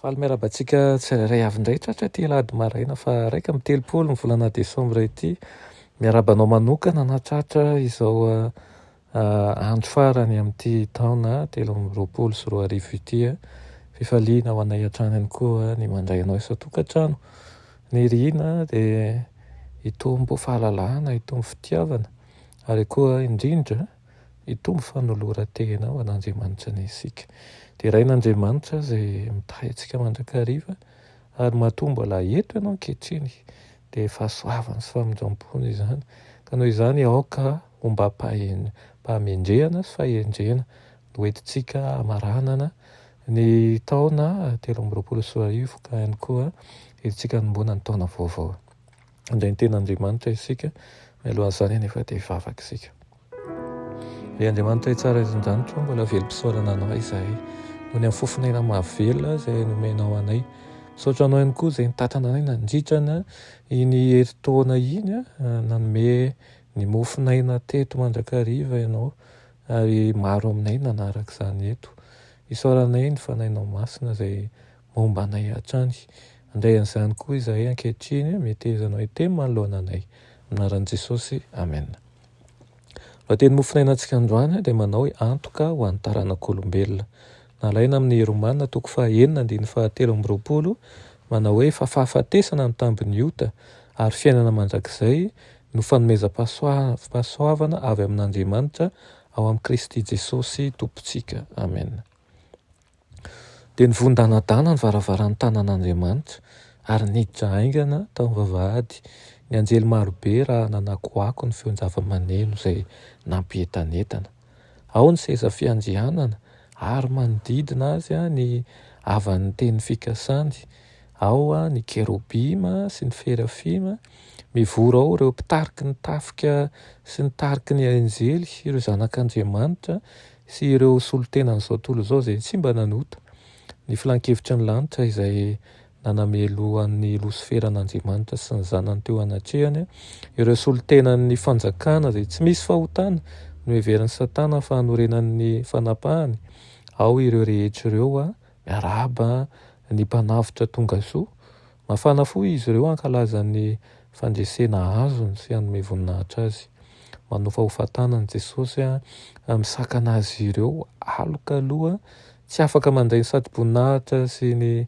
Faly miarahaba antsika tsirairay avy indray tratra ity alahady maraina fa iraika amby telopolo ny volana desambra ity. Miarahaba anao manokana na tratra izao ah, ah, andro farany amin'ity taona telo amby roapolo sy roa arivo ity. Eh. Fifaliana ho anay hatrany ihany koa ny mandray anao isan-tokantrano. Ny rihina dia hitombo fahalalahana, hitombo fitiavana ary koa indrindra Hitombo fanoloran-tena ho an'Andriamanitra anie isika. Derain'Andriamanitra izay mitahy antsika mandrakariva ary matoa mbola eto ianao ankehitriny dia fahasoavany sy famindram-pony izany ka noho izany aoka hombam-pahendrehana sy fahendrena no entintsika hamaranana ny taona telo amby roapolo sy roa arivo ka ihany koa entintsika hanomboana ny taona vaovao. handray ny tenan'Andriamanitra isika mialoha an'izany anefa dia hivavaka isika ry Andriamanitra hitsara izy ndanitro mbola velom-pisaorana anao izahay noho ny afofon'aina mahavelona izay nomenao anay misaotra anao ihany koa izay nitatana anay nandritrana iny herintaona iny nanome ny mofon'aina teto mandrakariva ianao ary maro aminay nanaraka izany eto isaoranay ny fanainao masina izay momba anay hatrany. Handray an'izany koa izahay ankehitriny, mihetezana hoe teny manoloana anay. Amin'ny anaran'i Jesosy, amena. Lohateny mofonainantsika androany dia manao hoe antoka ho an'ny taranak'olombelona. Nalaina amin'ny Romana toko fahaenina andininy fahatelo amby roapolo, manao hoe fa fahafatesana ny tambin'ny ota, ary fiainana mandrakizay no fanomezam-pahasoavana avy amin'Andriamanitra ao amin'i Kristy Jesosy Tompontsika. Amena. Dia nivondanadana ny varavaran'ny tanan'Andriamanitra ary niditra haingana tao amin'ny vavahady ny anjely marobe raha nanakoako ny feon-javamaneno izay nampientanentana. Ao ny seza fiandrianana ary manodidina azy ny havan'ny teny fikasany, ao ny kerobima sy ny ferafima, mivory ao ireo mpitariky ny tafika sy ny tariky ny anjely sy ireo zanak'Andriamanitra sy ireo solontenan'izao tontolo izao izay tsy mba nanota ny filankevitry ny lanitra izay nanamelo an'i Losifera an'Andriamanitra sy ny zanany teo anatrehany, ireo solontenan'ny fanjakana izay tsy misy fahotana noheverin'i Satana fa hanorenan'ny fanapahany, ao ireo rehetra ireo, miarahaba ny Mpanavotra tongasoa, Mafana fo izy ireo hankalaza ny fandresena azony sy hanome voninahitra Azy. Manofahofa tanana i Jesosy misakana azy ireo alokaloha tsy afaka mandray ny satroboninahitra sy ny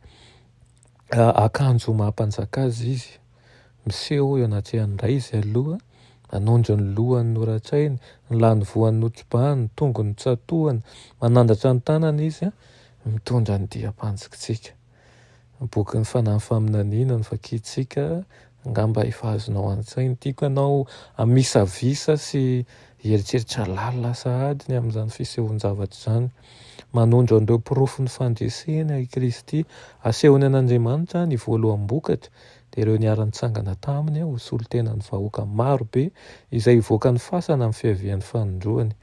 akanjo maha-mpanjaka Azy Izy. Miseho eo anatrehan'ny Ray Izy aloha, manondro ny lohany noratrainy, ny lanivoany notrobahiny, ny tongony notsatohany, manandratra ny tanany Izy, mitondra ny diam-panjikitsika. Bokin'ny Fanahy Faminaniana no vakintsika, angamba efa azonao an-tsaina. Tiako ianao hamisavisa sy hieritreritra lalina sahady ny amin'izany fisehoan-javatra izany. Manondro an'ireo porofon'ny fandresena i Kristy asehony an'Andriamanitra ny voaloham-bokatra, dia ireo niara-nitsangana taminy ho solontenan'ny vahoaka maro be izay hivoaka ny fasana amin'ny fiavian'ny fanindroany.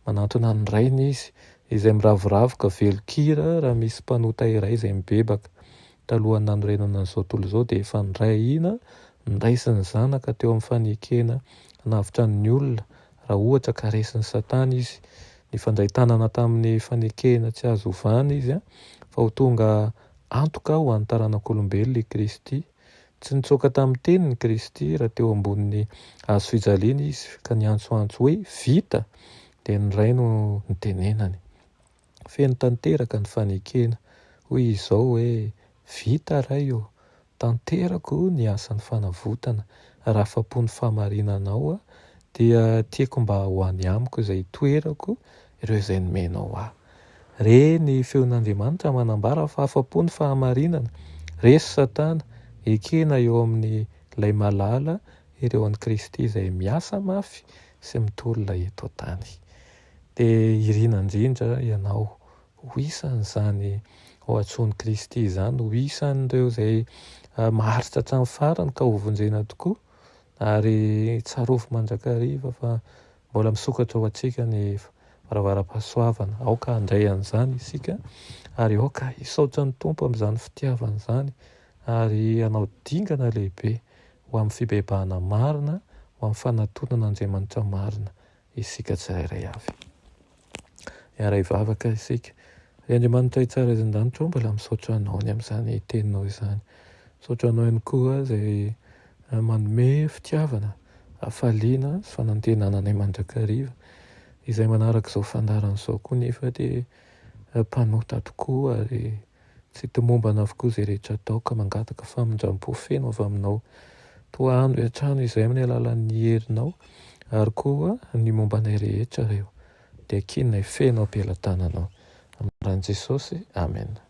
Manantona ny Rainy izy izay miravoravo ka velon-kira raha misy mpanota iray izay mibebaka. Talohan'ny nanorenana an'izao tontolo izao dia efa nindray ahiana niraisin'ny zanaka teo amin'ny fanekena hanavotra ny olona raha ohatra ka resin'i Satana izy. Nifandray tanana tamin'ny fanekena tsy azo ovana izy fa ho tonga antoka ho an'ny taranak'olombelona i Kristy. Tsy nitsoaka tamin'ny teniny Kristy raha teo ambonin'ny hazo fijaliana izy ka niantsoantso hoe, Vita! dia ny Ray no nitenenany. Feno tanteraka ny fanekena. Hoy izy izao hoe, Vita, Ray ô! Tanterako ny asan'ny fanavotana. Raha afa-po ny fahamarinanao aho, dia tiako mba ho any amiko izay itoerako ireo izay nomenao ahy. Re ny feon'Andriamanitra manambara fa afa-po ny fahamarinana, resy Satana, ekena eo amin'ny Ilay malala ireo an'i Kristy izay miasa mafy sy mitolona eto an-tany. Dia irina indrindra ianao ho isan'izany ho antsoin'i Kristy izany, ho isan'ireo izay maharitra hatramin'ny farany ka hovonjena tokoa, ary tsarovy mandrakariva fa Mbola misokatra ho antsika ny varavaram-pahasoavana. Aoka handray an'izany isika ary aoka hisaotra ny Tompo amin'izany fitiavany izany ary hanao dingana lehibe ho amin'ny fibebahana marina, ho amin'ny fanatontana Andriamanitra marina isika tsirairay avy. hiara hivavaka isika. Ry Andriamanitray tsara eto an-danitra ô, mbola misaotra Anao ny amin'izany Teninao izany. Misaotra Anao ihany koa izay manome fitiavana, hafaliana sy fanantenana anay mandrakariva. Izay manaraka izao fandaharana izao koa nefa dia mpanota tokoa ary. Tsy tomombana avokoa izay rehetra atao ka mangataka famindram-po feno avy aminao. Toa hanohy hatrany izay amin'ny alalan'ny herinao ary koa ny momba anay rehetra reo dia kianay feno am-pelatananao. Amin'ny anaran'i Jesosy, amena.